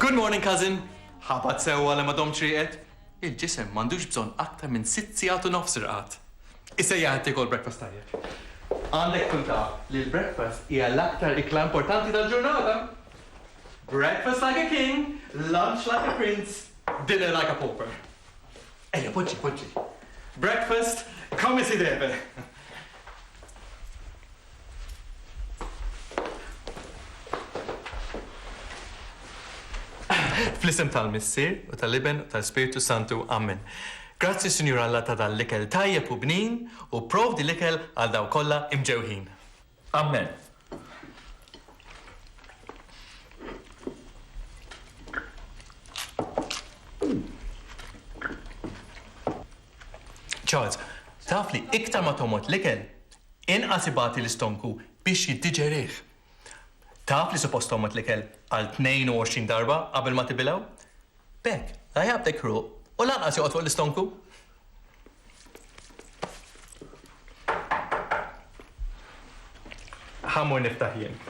Good morning, cousin! Ħabat sewwa li ma domx rieqed? Il-ġisem m'għandux bżonn aktar minn sitt sigħat u nofs irqad. Isejjaħek tiekol breakfast tajjeb. Għandek tkun taf li l-breakfast hija l-aktar ikla importanti tal-ġurnata. Breakfast like a king, lunch like a prince, dinner like a pauper. Ejja, poġġi, poġġi. Breakfast come si deve. Fl-isem tal-Missier u tal-Iben u tal-Ispirtu Santu, amen. Grazzi Sinjur Alla ta' dan l-ikel tajjeb u bnin u pprovdi l-ikel għal dawk kollha imġewħin. Amen. Charles, taf li iktar ma tommod l-ikel, Inqas ibati l-istonku biex jiddiġerih. Taf li suppost tgħommod l-ikel għal 22 darba qabel ma tibilgħu? B'hekk, la jaqbdek ħruq u lanqas joqgħod fuq l-istonku. Ħa mmur niftaħ jien.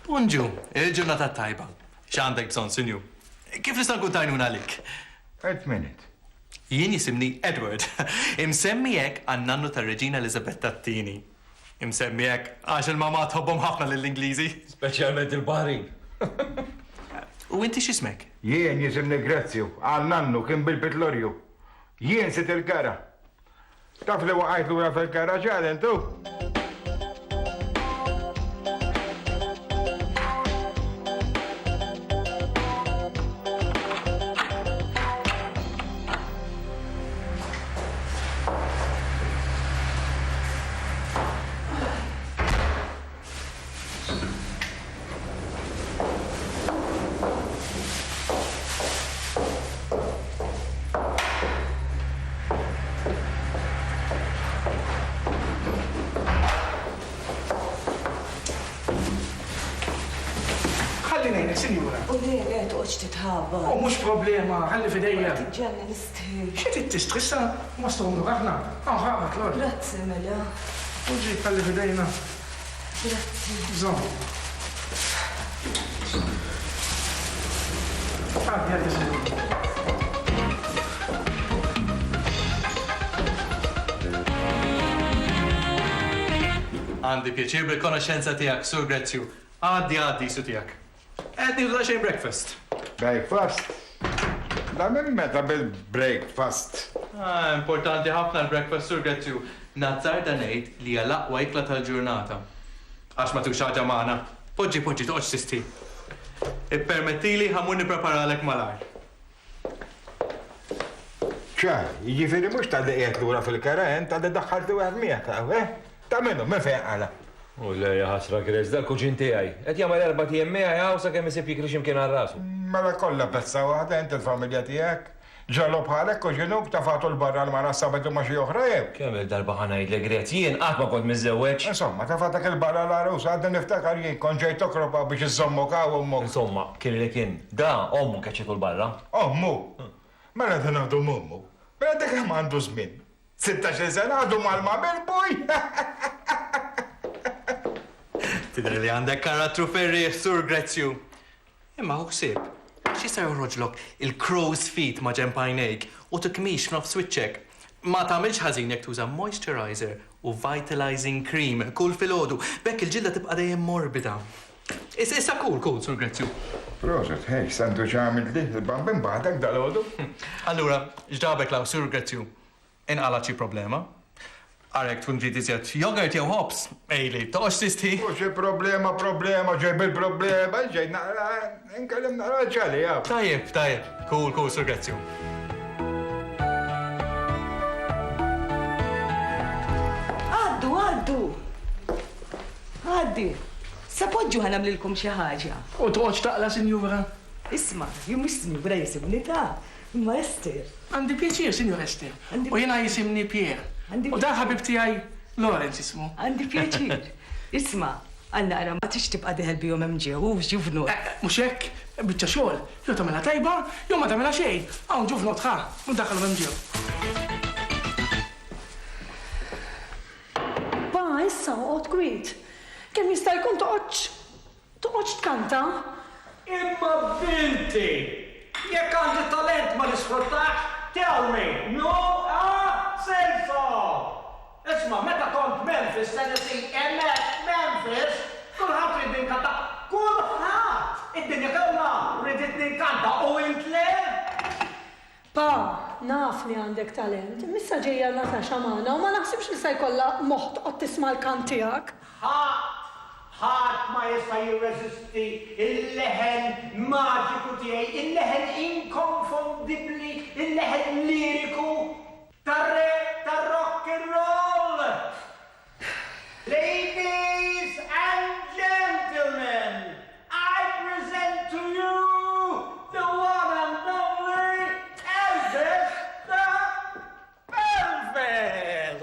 Bonġu, il-ġurnata tajba. X'għandek bżonn, Sinjur? Kif nista' nkun ta' għajnuna għalik? Wait minute. Jien jisimni Edward. Imsemmi hekk għan-nannu tar-Reġina Eliżabetta t-Tieni. Imsemmi hekk għax il-mamà tħobbhom ħafna lill-Ingliżi. Speċjalment il-baħrin. U inti x'ismek? Jien jisimni Grezju. Għal nannu kien bil-pitlorju. Jien sid il-gara. Taf li waqajt lura fil-garaġġ għal intu? Ħalli ngħinek, sinjura. O le, le, toqgħodx titħabat. O mhux problema, ħalli f'idejja. Tiġġenni nistħi. Xi trid tistħi, issa, mastru mnur aħna. Hawn ħabad l-art. Grazzi, mela. U ġib, ħalli f'idejna. Għandi pjaċir bil-konoxxenza tiegħek, Sur Grezju. Għaddi, għaddi, su tiegħek. Qed nieħdu daqsxejn breakfast. Breakfast? Da minn meta bil-breakfast? Ah, importanti ħafna l-breakfast, Sur Grezju. Nazzarda ngħid li hija l-aqwa ikla tal-ġurnata. Għax ma tieħux xi ħaġa magħna? Poġġi, poġġi, toqgħodx tisti. Ippermettili ħa mmur nippreparalek malajr. Ċar, jiġifieri mhux talli qiegħed lura fil-kera int, talli daħħalt li wieħed miegħek hawn, eh? Ta' min hu, min fejn qala'? U le, ja ħasra, Chris, dal-kuġin tiegħi. Qed jagħmel erbat ijiem miegħi hawn sakemm isib jikri xi mkien għal rasu. Mela kollha pezza waħda int il-familja tiegħek? Ġagħlu bħalek kuġinuk, tefagħtu 'l barra l-mara s-Sabat u ma xi oħra jew? Kemm-il darba ħa ngħidlek, Grez, jien qatt ma kont miżżewweġ. Insomma, tefagħtek 'il barra l-għarusa, għadni niftakar jien kont ġejt okrob hawn biex iżżommok hawn u ommok. Insomma, kirilek int. Da, ommu qed jiekol barra. Ommu? Mela dan għadu m'ommu? Mela dak kemm għandu żmien? Sittax-il sena għadu malma mill-buj? Tidher li għandek karattru ferrieħ, Sur Grezju. Imma ħu ħsieb, għax jista' joħroġlok il-crow's feet maġenb għajnejk u tikkmix f'nofs wiċċek. Ma tagħmilx ħażin jekk tuża moisturiser u vitalizing cream kull filgħodu. B'hekk il-ġilda tibqa' dejjem morbida. Is, issa kull, kull, Sur Grezju. Proset, ħej, sandwich għamiltli l-bambin waħdek dalgħodu? Allura, x'ġabek l-hawn, Sur Grezju? Inqalgħet xi problema? Ara jekk tkun trid iżjed yogurt jew ħobż, għidli, toqgħodx tisti. U xi problema, problema, ġejb il-problema, ġej naqra. Inkellem naqra l-ġali, jaf. Tajjeb, tajjeb. Cool, cool, Sur Grazju. Għaddi, sa poġġu ħanamlilkom xi ħaġa. U toqgħodx taqla, Sinjura? Isma, jien mhux Sinjura jisibni ta' imma Ester. Għandi pjaċir, Sinjur Ester. U jiena jisimni Pier. U da ħabib tiegħi Lawrence ismu. Għandi pjaċir. Isma', għal naqra ma tridx tibqa' deher bihom hemm ġew, hu ġuvnot. Eh, mhux hekk, il-biċċa xogħol, jew tagħmilha tajba, jew ma tagħmilha xejn. Hawn ġuvnot, ħa, u ddaħħalhom hemm ġew. Pa, issa oqgħod kwiet. Kemm jista' jkun toqgħodx. Toqgħodx tkanta? Imma binti! Jekk għandi talent ma nisfruttax? Tell me! No? Ah! Say so! Isma', meta kont f'Memphis, Tennessee, hemmhekk f'Memphis, kulħadd ried ninkanta. Kulħadd! Id-dinja kollha riditni nkanta u int le? Pa, naf li għandek talent, imma issa ġejja Natasha magħna u ma naħsibx li se jkollha moħħ tqgħod tisma' l-kant tiegħek. Ħadd, ħadd ma jista' jirreżisti l-leħen maġiku tiegħi, il-leħen inkonfondibbli, il-leħen liriku. Tar-re tar-rock n' roll! Ladies and gentlemen, I present to you the one and only Elvis the Pelvis!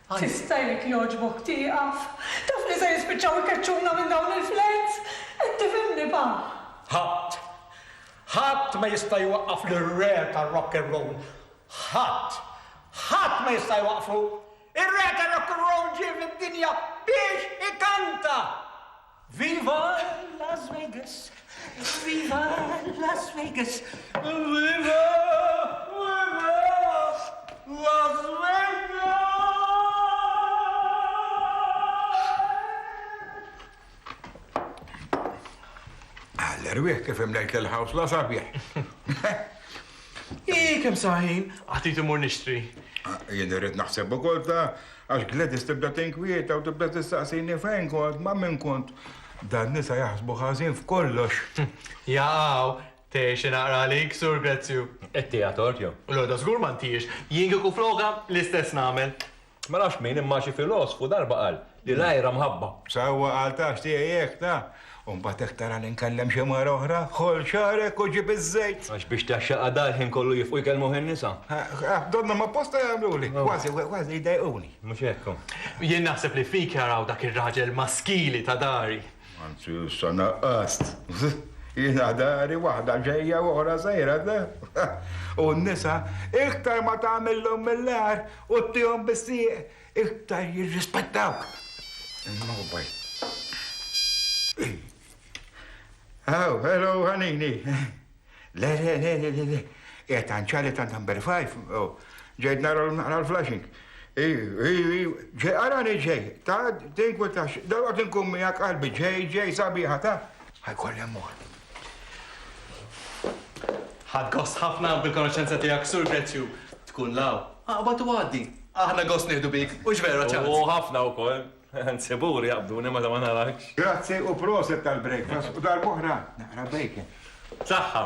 Tista' jekk jogħġbok tieqaf? Taf li se jispiċċaw ikeċċuna minn dawn il-flejts? Qed tifhimni pa? Ħadd. Ħadd ma jista' jwaqqaf lir-Re tar-Rock and Roll. Ħadd. Ħadd ma jista' jwaqqfu. Ir-Re tar-Rock and Roll ġie fid-dinja biex ikanta! Viva Las Vegas! Viva Las Vegas! Viva! Erwieħ kif imlejt l-ħaws la sabiħ. Ii, kem saħin, għatit imur nixtri. Ah, jien irrid naħseb ukoll ta' Għax Gladys tibda tinkwieta u tibda tistaqsini fejn kont, ma' min kont. Dan nisa jaħsbu ħażin f'kollox. Jaqaw, tgħix xi naqra għalik, Sur Grezju. Qed tieha tort jew? L-għoda żgur ma ntiex. Jien kieku flokha, l-istess nagħmel. Ma nafx min, imma xi filosfu darba qal li l-għira mħabba. Sewwa qal, tafx tiegħi hekk, ta? U mbagħad hekk tara li nkellem xi mara oħra, ħoll xagħrek u ġib iż-żejt! Għax biex taxxaqha da l-ħin kollu jifqu jkellmuh in-nisa? Għax donnhom apposta jagħmluli, kważi, kważi jdejquni. Mhux hekk hu? Jien naħseb li fik jaraw dak ir-raġel maskili ta' dari. Anzi issa naqqast. Jiena dari waħda ġejja u oħra sejra, le? U n-nisa iktar ma tagħmillhom mill-agħar u ttihom bis-sieq. Iktar jirrispettawk. Il-mobile. Oh, hello, ħanini. Le, le, le, le, le, le. Jgħet għanċali ta' number 5. Oh, ġejt nara l-flashing. Ġej, għarani ġej, ta' din kuntax, dawa kien kummi għak qalbi, ġej, ġej, sabiħa, ta' għajkolli mor. Ħadt gost ħafna bil-konoxxenza tiegħek, Sur Grezju. Tkun l-hawn, aqbad u għaddi. Aħna gost nieħdu bik, hux vera, Charles? U ħafna wkoll. Anzi, buri jaqbduni meta ma narakx. Grazzi u proset tal-breakfast u darb'oħra naqra bacon. B'saħħa.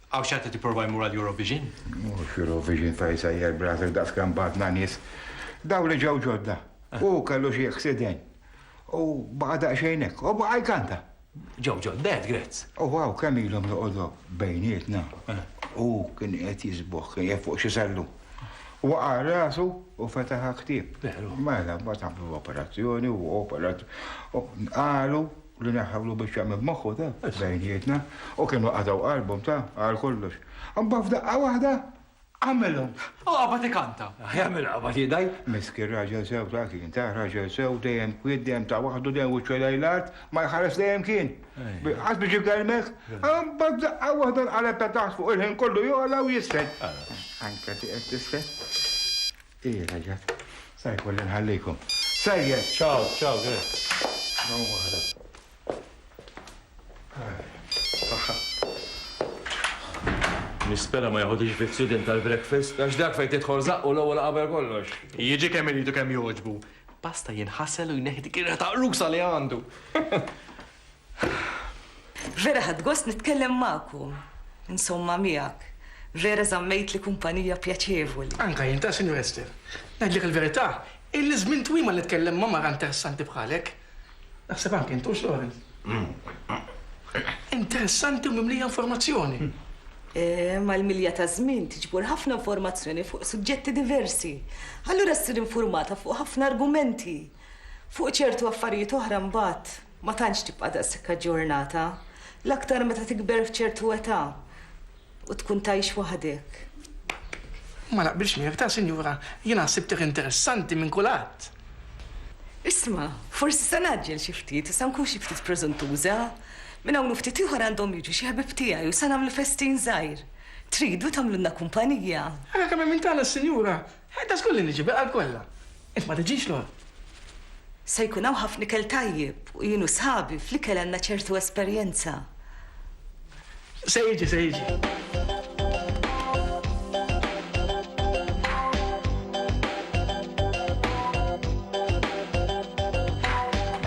Hawn xi ħadd qed jipprova jmur għal Eurovision? Mhux Eurovision ta' jsejjer Brasil daqs kemm bagħatna nies. Dawn li ġew ġodda. Hu kellu xi accident. U baqa' daqsxejn hekk. U baqa' jkanta. Ġew ġodda għedt Grez. U hawn kemm ilhom joqogħdu bejnietna. Hu kien qed jisboħ, kien qiegħed fuq xi sellum. Waqa' rasu u fetaħ għal ktieb. Veru. Mela, mbagħad għamlu l-operazzjoni u opera. Qalu. li neħħewlu biċċa minn moħħu ta' bejnietna u kienu qatgħu qalbhom ta' għal kollox. Imbagħad f'daqqa waħda għamilhom. U qabad ikanta. Jagħmel qabad jidgħi. Miskin raġel sew ta' kien, ta' raġel sew dejjem kwiet, dejjem ta' waħdu, dejjem wiċċu lejn l-art, ma jħares dejjem kien. Qatt biex ikellmek. Imbagħad f'daqqa waħda nqaleb ta' taħt fuq il-ħin kollu jogħla u jisfel. Anke ti qed tisfel. Sa jkolli nħallikom. Sejjer, ciao, ciao, grazie. Nispera ma jaħodix vizzju din tal-breakfast, għax dak fejn tidħol zaqqu l-ewwel qabel kollox. Jiġi kemm irid u kemm jogħġbu. Basta jinħasel u jneħħi dik ir-riħa taqrusa li għandu. Vera ħadt gost nitkellem magħkom, insomma miegħek. Vera żammejtli kumpanija pjaċevoli. Anke jien ta', Sinjura Esther. Ngħidlek il-verità, illi żmien twil ma nitkellem ma' mara interessanti bħalek. Naħseb anke int hux, Lawrence? Interessanti u mimlija informazzjoni. Mal-milja taż-żmien tiġbor ħafna informazzjoni fuq suġġetti diversi. Allura ssir infurmata fuq ħafna argumenti. Fuq ċertu affarijiet oħra mbagħad. Ma tantx tibqa' daqshekk aġġornata, l-aktar meta tikber f'ċertu età u tkun tgħix waħdek. Ma naqbilx miegħek f'dan, sinjura. Jiena ħsibtek interessanti minn kulhadd. Isma', forsi se ngħaġġel xi ftit u se nkun xi ftit preżuntuża. Minn hawn u ftit ieħor għandhom jiġu xi ħbieb tiegħi u se nagħmlu festin żgħir. Tridu tagħmlulna kumpanija? Ara kemm hemm minn tagħna, sinjura! Ħajta żgur li niġi bil-qalb kollha, int ma tiġix lura. Se jkun hawn ħafna ikel tajjeb u jien u sħabi fl-ikel għandna ċertu esperjenza. Se jiġi, se jiġi.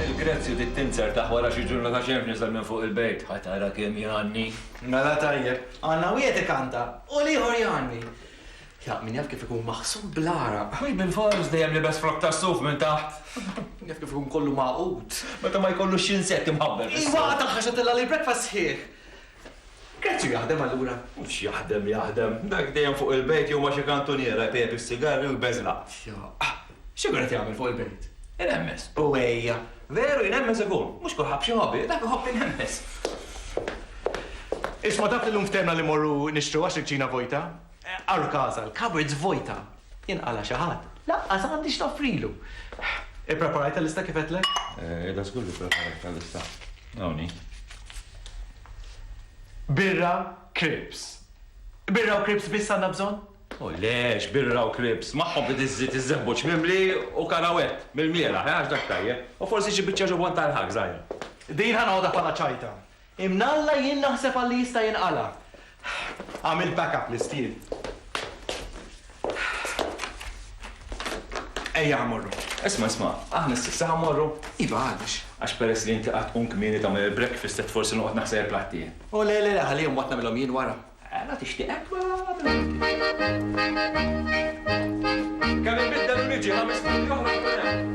Il-Grezzi trid tinser taħ wara xi ġurna ta' xemx niżel minn fuq il-bejt. Ħa tara kemm jgħanni. Mela tajjeb. Għandna wieħed ikanta u l-ieħor jgħanni. Jaf min jaf kif ikun maħsud bl-għaraq. Ħbib il-fors dejjem libes frokk tas-suf minn taħt. Min jaf kif ikun kollu magħqud. Meta ma jkollux xi insett imħabbel fis-suf. Iva, tagħha x'għad illa l-breakfast sħiħ. Grazzi u jaħdem allura. X'jaħdem jaħdem. Dak dejjem fuq il-bejt jew ma' xi kantuniera jpejjep is-sigarri u jbeżla'. Jaqqa'. X'ikun qed jagħmel fuq il-bejt? Inemmez. U ejja. Veru jnemmez ikun. Mhux kulħadd b'xi hobby, dak iħobb inemmez. Isma' taf li llum ftehmna li mmorru nixtru għax il-kċina vojta? Għal każha l-cupboards vojta, jinqala' xi ħadd, lanqas għandi x'noffrilu. Ippreparajt il-lista kif għedtlek? Iva żgur li ppreparajt il-lista. Hawn hi. Birra, kripps. Birra u kripps biss għandna bżonn? O le, x'birra u kripps, magħhom trid iżżid iż-żebbuġ mimli u karawett mill-mieraħ, għax dak tajjeb, u forsi xi biċċa ġobon tal-ħak żgħira. Din ħa noħodha bħala ċajta. Imnalla jien naħseb għal li jista' jinqala'. Għamilt backup l-istiel. Ejja ħa morru. Isma' isma', aħna s'issa ħa morru? Iva, għaliex? Għax peress li inti qatt tqum kmieni tagħmel il-breakfast qed forsi noqgħod naħseb il-platti. O le le le, ħallihom mbagħad nagħmilhom jien wara. Mela tixtieq hekk mela nagħmilhom. Kemm inbiddel u niġi, ħames minuti oħra nkun hemm.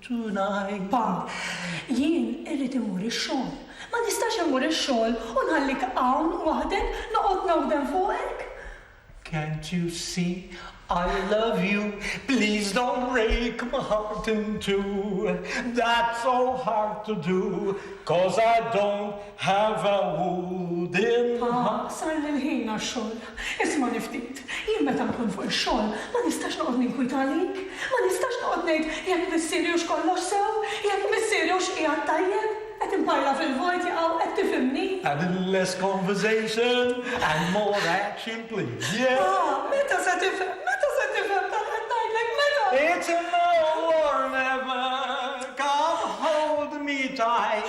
Tuna, Pam, jien irrid immur ix-xogħol. Ma nistax immur ix-xogħol u nħallik hawn waħdek, noqgħod nawden fuqek. Can't you see I love you, please don't break my heart in two, that's so hard to do, 'cause I don't. Have a wooden Ha, sar li l-ħin għax-xogħol. Ismagħni ftit. Jien meta nkun fuq ix-xogħol, ma nistax noqgħod ninkwieta għalik. Ma nistax noqgħod ngħid jekk missieri hux kollox sew, jekk missieri hux qiegħed tajjeb. Qed inparla fil-vojt, jaqaw, qed tifhimni? A little less conversation and more action please, yeah? Ha, meta se tifhem, meta se tifhem dak li qed ngħidlek, meta? It's a now or never, come hold me tight.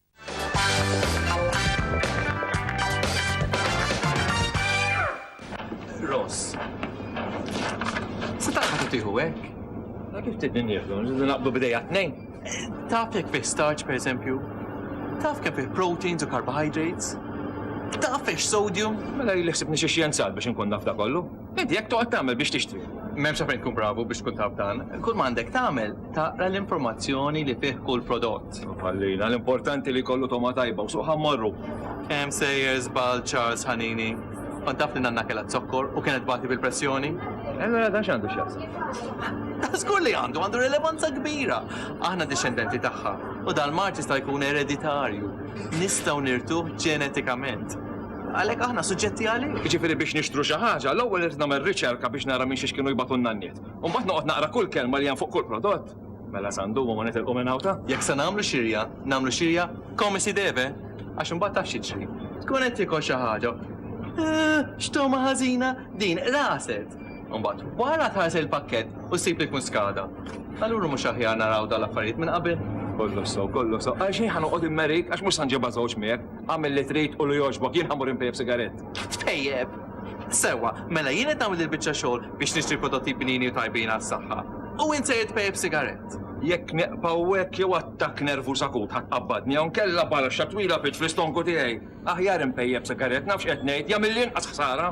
Ross. Se taħħa tutiħu hekk? Ma kif tidni nieħdu, naqbdu bidejja tnejn. Taf jekk fih starch per eżempju, taf kemm fih proteins u carbohydrates, taf fih sodium. Mela li ħsibni xi xjenzat biex nkun naf da kollu. Inti jekk toqgħod tagħmel biex tixtri. M'hemmx fejn tkun bravu biex tkun taf dan. Kull ma għandek tagħmel Taqra l-informazzjoni li fih kull prodott. Ħallina, l-importanti li jkollu togħma tajba u suq ħa mmorru. Kemm sejjer żball Charles Ħanini? Kont taf li nanna kellha z-zokkor u kienet tbati bil-pressjoni? E allura dan x'għandu x'jaqsam? Żgur li għandu, għandu rilevanza kbira. Aħna dixxendenti tagħha u dal-mard jista' jkun ereditarju. Nistgħu nirtuh ġenetikament. Għalhekk aħna suġġetti għalih. Jiġifieri biex nixtru xi ħaġa, l-ewwel irid nagħmel riċerka biex nara minn xiex kienu jbatu n-nanniet. U mbagħad noqgħod naqra kull kelma li hemm fuq kull prodott. Mela sa ndumu ma nitilqu minn hawn ta? Jekk se nagħmlu xirja, nagħmlu xirja come si deve, għax imbagħad taf x'jiġri. Tkun qed tiekol xi ħaġa u Eeh, x'togħma ħażina din, raset! U mbagħad wara tħares lejn il-pakkett u ssib li jkun skada. Allura mhux aħjar naraw dawn l-affarijiet minn qabel? Kollox sew, kollox sew. Għalxejn ħa noqgħod immerik għax mhux se nġibha żewġ miegħek. Agħmel li trid u li jogħġbok, jien ħa mmur inpejjep sigarett. Tpejjep? Sewwa, mela jien qed nagħmel il-biċċa xogħol biex nixtri l-prodotti bnini u tajbin għas-saħħa, u int sejjer tpejjep sigarett! Jekk nieqaf hawnhekk jew attakk nervuż akut ħa tqabbadni jew inkella baraxxa twila f'itx fl-istonku tiegħi! Aħjar inpejjep sigarett, naf x'qed ngħid, jagħmilli inqas ħsara!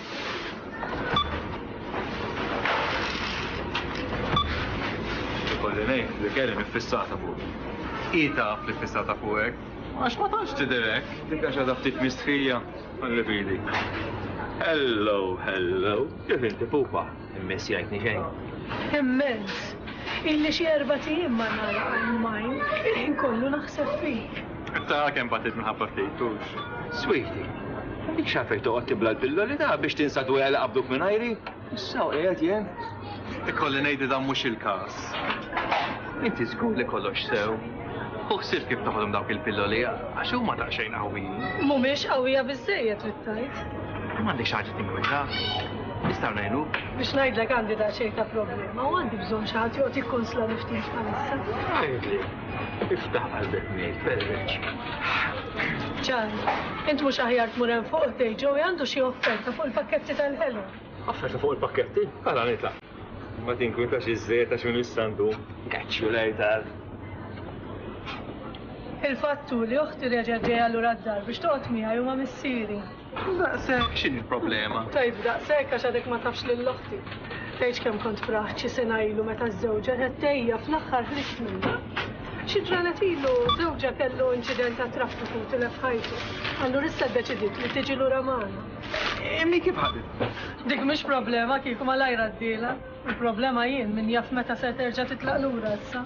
Ikolli ngħid li kelli miffissata fuq. Hi taf li ffissata fuqek. Għax ma tantx tidherek. Dik għax għadha ftit mistħija. Ħalli bidi. Hello, hello. Kif inti pupa? Immens jgħidni xejn. Immens! Illi xi erba' tiem ma nagħlaq għajn m'għajn, il-ħin kollu naħseb fik. Ta' kemm batit minħabba ftit, hux? Sweetie, dik xafej toqgħod tibla l-pilloli ta' biex tinsa d-dwejja li qabduk minn għajri? Issa qiegħed jien. Ikolli ngħid dan mhux il-każ. Inti żgur li kollox sew. U ħsib kif toħodhom dawk il-pilloli għax huma daqsxejn qawwijin. Mhumiex qawwija biżżejjed trid tgħid. M'għandekx ħaġa tinkwetha. Nistgħu ngħinuk? Biex ngħidlek għandi daqsxejn ta' problema u għandi bżonn xi ħadd joqgħod jikkonsla niftit bħalissa. Għidli, iftaħ qalbek ngħid, perreċ. Ġan, int mhux aħjar tmur hemm fuq dej ġew għandu xi offerta fuq il-pakketti tal-ħelu. Offerta fuq il-pakketti? Għala nitla. Ma tinkwinta xi żejt għax minn istandu. Kaċċu lejtar. Il-fattu li uħti reġa' ġejja lura d-dar biex toqgħod miegħi huma missieri. Daqshekk, x'inhi l-problema? Tgħid daqshekk għax għadek ma tafx lil oħti. Tgħidx kemm kont f'raħt xi sena ilu meta ż-żewġha tat tgħejja fl-aħħar ħriġt minnha. Xi ġranet ilu żewġha kellu inċident tat-traffiku u tilef ħajtu. Allura issa ddeċidiet li tiġi lura magħna. Immi kif ħaditha? Dik mhix problema kieku malajr għaddielha. Il-problema jien min jaf meta se terġa' titlaq lura issa.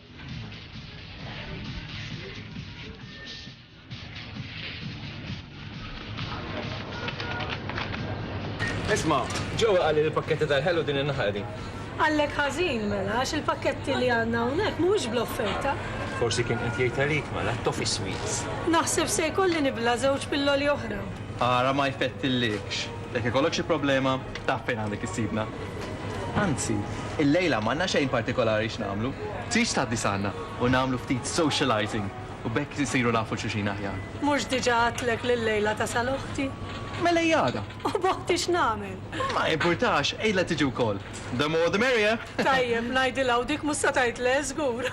Isma, ġew għalli l-pakketti tal-ħelu din in-naħa din. Għallek ħażin mela, għax il-pakketti li għandna hawnhekk mhux bl-offerta. Forsi kien qed jgħid għalik mela tofi sweets. Naħseb se jkolli nibla żewġ pilloli oħra. Ara ma jfettillikx. Jekk ikollok xi problema, taf fejn għandek issibna. Anzi, illejla m'għandna xejn partikolari x'nagħmlu. Tridx tgħaddi sgħandna u nagħmlu ftit socializing u b'hekk insiru nafu 'l xulxin aħjar? Mhux diġa għedtlek li llejla tasal oħti? Mela hi għada. U b'oħti x'nagħmel? Ma jimpurtax, għidlha tiġi wkoll. The more the merrier! Tajjeb, ngħidilha u dik mhux se tgħid le, żgur.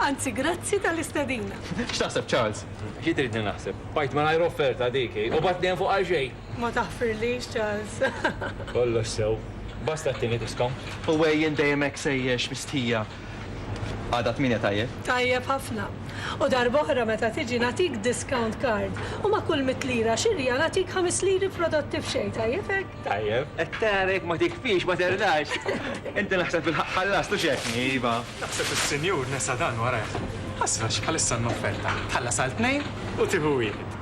Anzi, grazzi tal-istedina. X'taħseb Charles? Xi tridni naħseb? Bqajt mingħajr offerta dik hi. U b'għad li hemm fuqha xejn. Ma taħfirlix Charles. Kollox sew. Basta t-tieni diskont. U għejjen dejjem hekk sejjex mistħija. Għada tmienja tajjeb? Tajjeb ħafna. U darb'oħra meta tiġi nagħtik discount card u ma' kull mitt lira xirja nagħtik ħames liri f'prodotti b'xejn, tajjeb hekk? Tajjeb. Qed tara jekk ma tikfix ma terlax. Inti naħseb fil-ħaqq ħallast u x'hekk, iva. Naħseb is-sinjur nesa dan warajh. Ħasra xi bħalissa n-offerta. Tħallas għal tnejn u tieħu wieħed.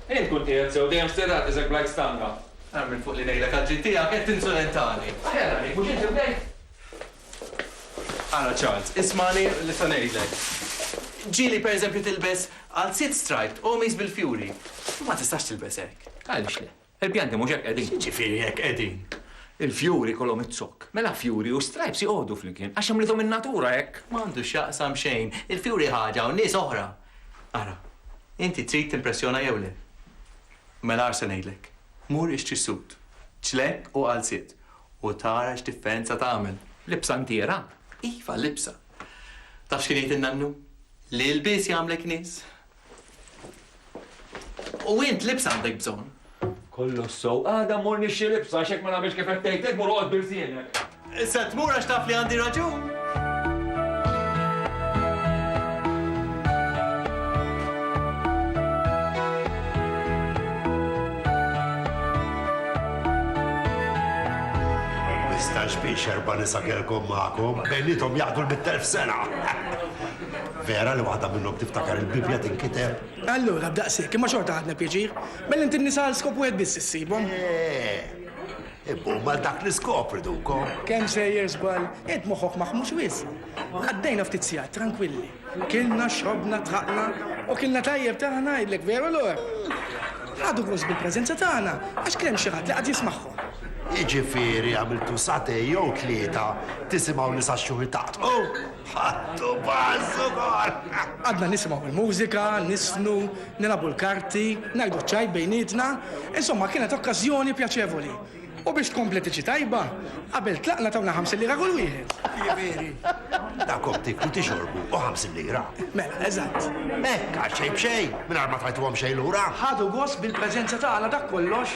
Int tkun qiegħed sew, dejjem stirrat riżek bl-għid stanga. Ara minn fuq li ngħidlek għall-ġid tiegħek qed tinsulentani. Aħjar għalik, mhux int imnejt? Ara Charles, ismagħni li se ngħidlek. Ġieli per eżempju tilbes għalziet striped u qmis bil-fjuri. Imma ma tistax tilbes hekk. Għaliex le? Il-pjanti mhux hekk qegħdin. X'jiġifieri hekk qegħdin? Il-fjuri jkollhom iz-zokk. Mela fjuri u stripes joqogħdu flimkien għax għamlithom in-natura hekk. M'għandu x'jaqsam xejn. Il-fjuri ħaġa u n-nies oħra. Ara, inti trid timpressjona jew le? Mela ara se ngħidlek. Mur ixtri sut, ċlekk u qalziet u tara x'differenza tagħmel. Libsa ntiera? Iva, libsa. Taf x'kien jgħid in-nannu? L-ilbies jagħmlek nies. U int libsa għandek bżonn. Kollox sew, għada mmur nixtri libsa għax jekk ma nagħmilx kif qed tgħid int mur oqgħod b'ilsienek. Issa tmur għax taf li għandi raġun. Mistax biex erba' nisa kelkom magħkom, bejnietom jaqdu l-mittelf sena. Vera li waħda minnhom tiftakar il-Bibbja tinkiteb. Allura, b'daqshekk, imma xorta ħadna pjaċir. Mela inti n-nisa għal skop wieħed biss issibhom? Eeh! Imma huma għal dak l-iskop ridukom. Kemm sejjer żball! Int moħħok maħmux wisq. Għaddejna ftit sigħat trankwilli. Kilna, xrobna, tlaqna. U kilna tajjeb ta' ngħidlek, veru Lore? Ħadu gost bil-preżenza tagħna għax kien hemm xi ħadd li qagħad jismagħhom. Jiġifieri għamiltu sagħtejn jew tlieta tisimgħu nisa xxuħi taqtqu? Ħadtu pass ukoll! Qgħadna nisimgħu l-mużika, niżfnu, nilagħbu l-karti, ngħidu ċ-ċajt bejnietna, insomma kienet okkażjoni pjaċevoli. U biex tkompli tiġi tajba, qabel tlaqna tawna ħamsin lira kull wieħed. Jiġifieri, tagħkom tieklu, tixorbu u ħamsin lira. Mela, eżatt. Hekk, għal xejn b'xejn, mingħajr ma tajtuhom xejn lura. Ħadu gost bil-preżenza tagħna, dak kollox.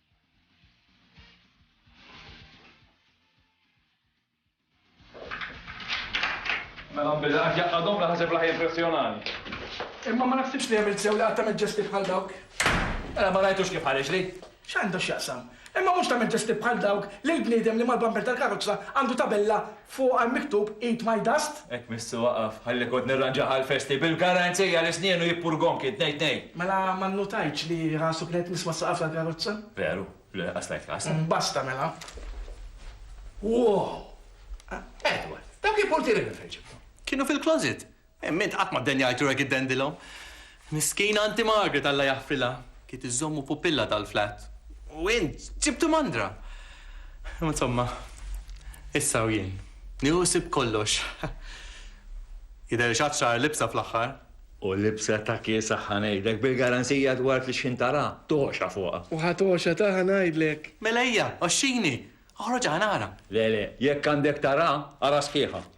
Mela billi qed jaqadhom naħseb raħ jimpressjonani. Imma ma naħsibx li għamilt sew li qatt tagħmel ġesti bħal dawk. Mela ma rajtux kif ħareġ li? X'għandu x'jaqsam? Imma mhux tagħmel ġesti bħal dawk lil bniedem li mal-bumper tal-karozza għandu tabella Fuqha miktub Eat my dust. Hekk missu waqaf, ħalli kont nirranġah għall-festi, bil-garanzija li snienu jippurgonki t-tnejn tnejn. Mela ma nnutajtx li rasu kienet nisma' s-saqaf tal-karozza? Veru, le, qass tajt kas. Basta mela. Wow! Edward, dawk il-purtieri minn fejn ġibthom? Kienu fil-closet. Imma int qatt ma ddenjajtu hekk iddendilhom. Miskina Anti Margaret Alla jaħfrilha, kiet iżżommu pupilla tal-flat. U int ġibtu mandra! Imma insomma, issa u jien. Nieħu ħsieb kollox. Jidher li x'għad xahar libsa fl-aħħar. U libsa ta' kiesha ħa ngħidlek, bil-garanzija dwar fix-xħin tara togħxa fuqha. U ħa togħxa ta' ħa ngħidlek. Mela ejja, għoxxini! Oħroġ ħa nara. Le, le, jekk għandek tara, ara sħiħa.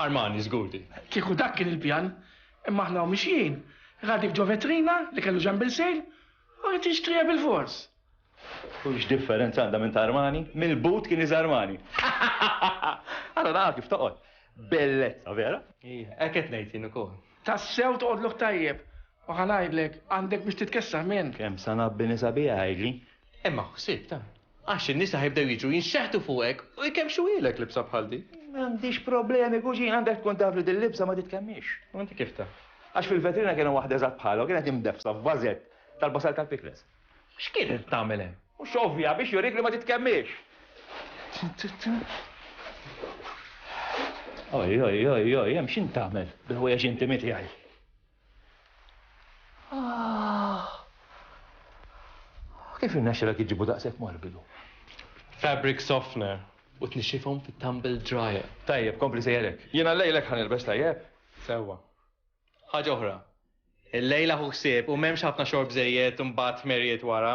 Armani, żgur di. Kieku dak kien il-pjan, imma aħna u mixjin, ra dik ġo vetrina li kellu ġenb il-sejl u ridt jixtriha bilfors. U x'differenza għandha minn ta' Armani? Mill-but kien iż Armani. Ara nara kif toqgħod. Bellezza, vera? Ija, hekk qed ngħid jien ukoll. Tassew toqgħodlok tajjeb. U ħa ngħidlek, għandek biex titkessaħ minn. Kemm sa ngħabbi nisa biha, għidli. Imma ħsieb ta'. Għax in-nisa ħajbdew jiġu jinxeħtu fuqek u jkemmxuhielek libsa bħal dik. M'għandix problemi, kuġin, għandek tkun taf li din libsa ma titkemmix. U inti kif taf? Għax fil-vetrina kien hemm waħda eżatt bħalha u kienet imdeffsa f'vażett tal-basal tal-pikles. X'kienet qed tagħmel hemm? Mhux ovvja, biex jurik li ma titkemmix! Oj, oj, oj, oj, hemm x'int tagħmel bil-ħwejjeġ intimi tiegħi? Ah. Kif irnexxilek iġibu daqshekk morbidu? Fabric softener. U tnixxifhom fit-tumble dryer. Tajjeb, kompli sejjerek. Jiena llejlek ħa nilbes tajjeb. Sewwa. Ħaġa oħra. Illejla ħu ħsieb u m'hemmx ħafna xorb żejjed u mbagħad ħmerijiet wara.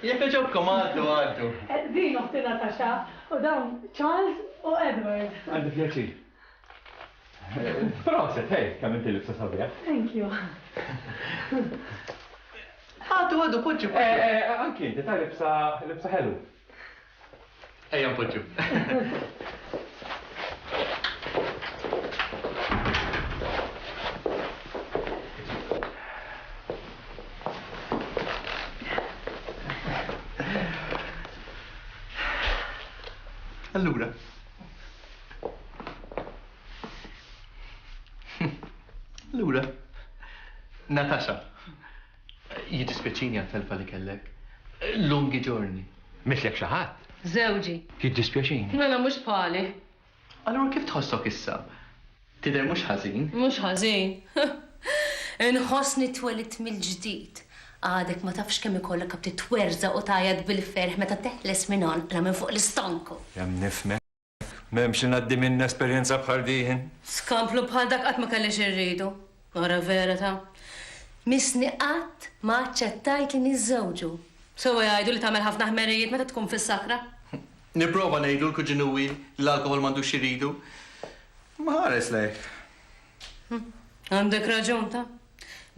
Jekk iġobkom għaddu għaddu. Din oħti Natasha u dawn Charles u Edward. Għandi pjaċir. Proset, hej, kemm inti libsa sabiħ. Thank you. Għaddu għaddu poġġi. Eh, eh, anki inti ta' libsa libsa ħelu. Ejja npoġġu. Allura. Allura. Natasha. Jiddispjaċini għat-telfa li kellek. Lungi ġorni. Mitlek xi ħadd? Żewġi. Jiddispjaċini. Mela mhux bħali. Allura kif tħossok issa? Tidher mhux ħażin. Mhux ħażin. Inħossni twelidt mill-ġdid. Għadek ma tafx kemm ikollok għad titwerżaq u tgħajjat bil-ferħ meta teħles minn għonqna minn fuq l-istonku. Nifhmek. M'hemm xi ngħaddi minn esperjenza bħal din. Skamplu bħal dak qatt ma kelli xi rridu. Ara vera ta'. Missni qatt ma aċċettajt li niżżewġu. Sewwa jgħidu li tagħmel ħafna ħmerijiet meta tkun fis-sakra. Nipprova ngħidlu l-kuġinuwi li l-alkoħol m'għandux xi jridu. Imma ħares lejh. Għandek raġun ta'.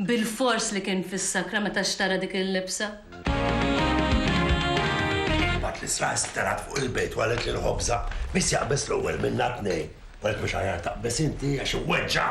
Bilfors li kien fis-sakra meta xtara dik il-libsa. Imbagħad l-Isra isterat fuq il-bejt u qalet lil Ħobża, Min se jaqbeż l-ewwel minna t-tnejn? Qalet, Mhux aħjar taqbeż inti għax iweġġa'.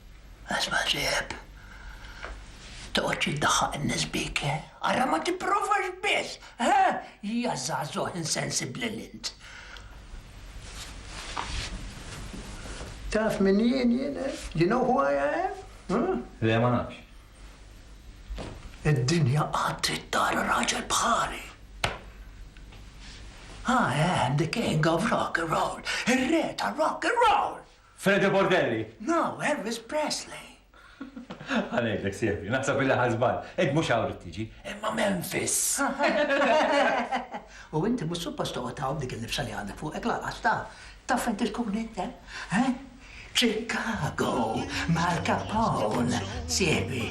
Isma' ġieħ, toqgħodx iddaħħaq in-nies bik, ara ma tipprovax biss, ħa! Ja żagħżugħ insensibbli li int! Taf min jien jien, eh? You know who I am? Huh? Le, ma nafx. Id-dinja qatt trid tara raġel bħali. I am the king of rock and roll, ir-re ta' rock and roll! Fede Bordelli! No, Elvis Presley! Ħa ngħidlek sieħbi, naħseb illi ħa żball. Int mhux hawn rid tiġi, imma Memphis! U inti mhux suppost toqgħod hawn b'dik il-libsa li għandek fuqek lanqas taf. Taf fejn trid tkun int hemm? He? Chicago m'Al Capone, sieħbi!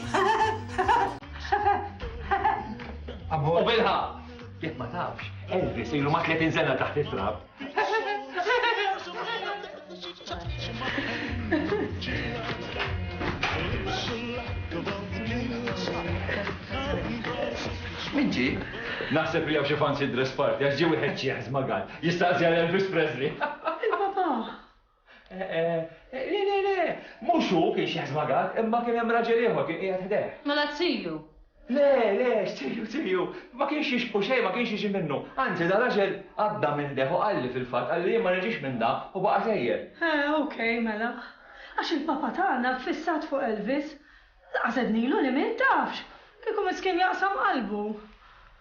U bilħaqq! Jekk ma tafx, Elvis ilu ma' 30 sena taħt it-trab. Minġi? Naħseb li għaw xi fancy dress party għax ġie wieħed ċieħ żmagat. Jistaqsi għal Elvis Presley. Il-papa. Le, le, le! Mhux hu kien xi ħsbagat, imma kien hemm raġel ieħor kien qiegħed ħdejh. Mela t-tiju? Le, le, x'tiju, tiju! Ma kienx jixbhu xejn, ma kienx jiġi minnu. Anzi, da raġel għadda minn ħdejh u qalli fil-fatt, qalli jien ma niġix minn da u baqa' sejjer. Eh, ok, mela. Għax il-Papa tagħna ffissat fuq Elvis. Laqas għednilu li miet, tafx! Kieku miskien jaqsam qalbu.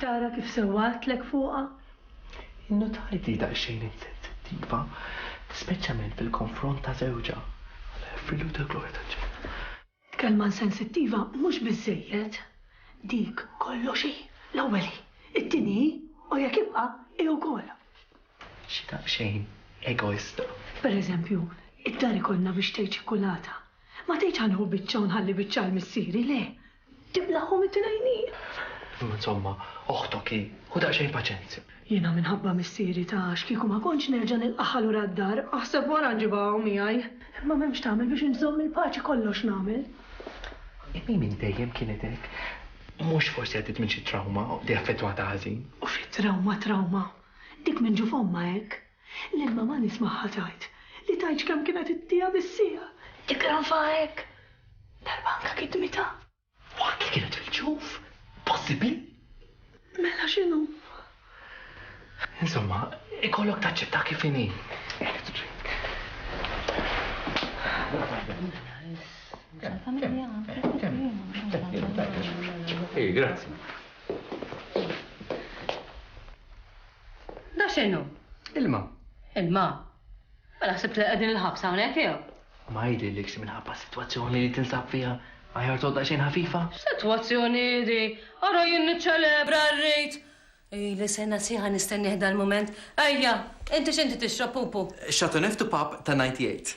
Qed tara kif sewwatlek fuqha? Innutajt li daqsxejn insensittiva, speċjament fil-konfront ta' żewġha. Alla joffrilu wkoll il-glorja taċ-ċel. Kelma insensittiva mhux biżżejjed, dik kollox hi, l-ewwel hi, it-tieni hi u jekk ibqa' hi wkoll. Xi daqsxejn egoista. Per eżempju, id-dar ikollna biex tgħid xi kulata. Ma tgħidx ħa nieħu biċċa u nħalli biċċa għal missieri, le. Tiblaghom it-tnejn hi. Insomma, oħtok hi, ħu daqsxejn paċenzja. Jiena minħabba missieri ta' x'kieku ma kontx nerġa' nilqagħha lura d-dar, aħseb wara nġibha hawn miegħi. Imma m'hemm x'tagħmel biex inżomm il-paċi kollox nagħmel. Imma hi minn dejjem kienet hekk. Mhux forsi għaddiet minn xi trawma li affettwatha ħażin. U xi trawma trawma! Dik minn ġu fommha hekk. Lil mamà nismagħha tgħid li tgħidx kemm kienet ittiha bis-siegħa. Tikkranfa hekk! Darba anke kitmitha. U anki kienet fil-ġuf. Possibbli? Mela x'inhu? Insomma, ikollok taċċetta kif inhi. Ej, grazzi. Da x'inhu? Ilma. Ilma? Mela ħsibt li qegħdin il-ħabs hawnhekk jew? Ma jidhirlikx minħabba s-sitwazzjoni li tinsab fiha aħjar toqgħod daqsxejn ħafifa? X'sitwazzjoni hi di? Ara jien niċċelebra r-rit! Ili sena sieħa nistennieh dal-mument. Ejja, inti x'inti tixrob, pupu? Chateauneuf Pub ta' 'Ninety Eight.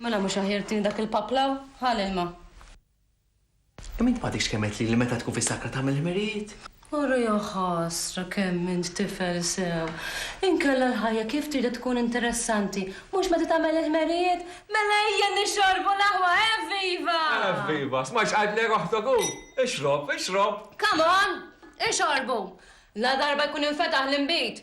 Mela mhux aħjar tini dak il-pub l-hawn? Ħa l-ilma. Kemm int m'għadekx kemm għedt lili meta tkun fis-sakra tagħmel ħmerijiet? Ara jaħasra kemm int tifel sew! Inkella l-ħajja kif tridha tkun interessanti? Mhux meta tagħmel il-ħmerijiet? Mela ejja nixorbu l-aħwa, evviva! Evviva! Smajtx qailtlek oħtok hu? Ixrob, ixrob! Come on! Ixorbu! Ladarba jkun infetaħ l-inbid!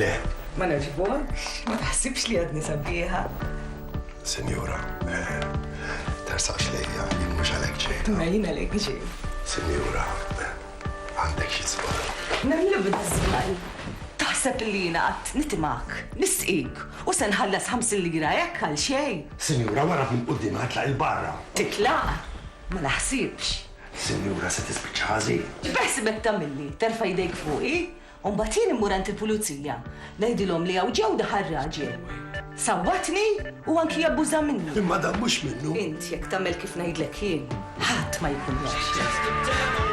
Le. Ma nogħġbokx, ma taħsibx li għadni sabiħa. Sinjura, eh, tarsaqx lejja, jien mhux għalhekk ġejta. Ma jien għalhekk ġej. Sinjura, eh, għandek xi żball. Nagħmlu bid-żball. Taħseb li jiena qatt nitimak, nisqik u se nħallas ħamsin lira hekk għal xejn. Sinjura, wara minn quddiem ħatlaq il-barra. Titlaq? Ma naħsibx. Sinjura se tispiċċa ħażin. X'beħsibek tagħmilli? Terfa' jdejk fuqi? U mbagħad jien immur għand il-pulizija. Ngħidilhom li hawn ġew daħal raġel. Sawwatni u anki abbuża minni. Imma dan mhux minnu. Int jekk tagħmel kif ngħidlek jien, ħadd ma jkun jaf x'tagħmel.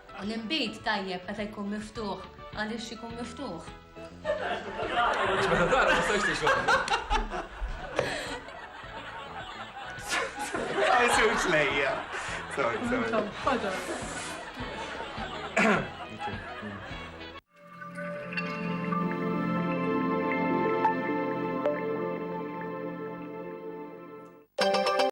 U l-inbid tajjeb meta jkun miftuħ għaliex ikun miftuħ. Għax meta tara ma stajx tixorbu. lejja. Sorry, sorry.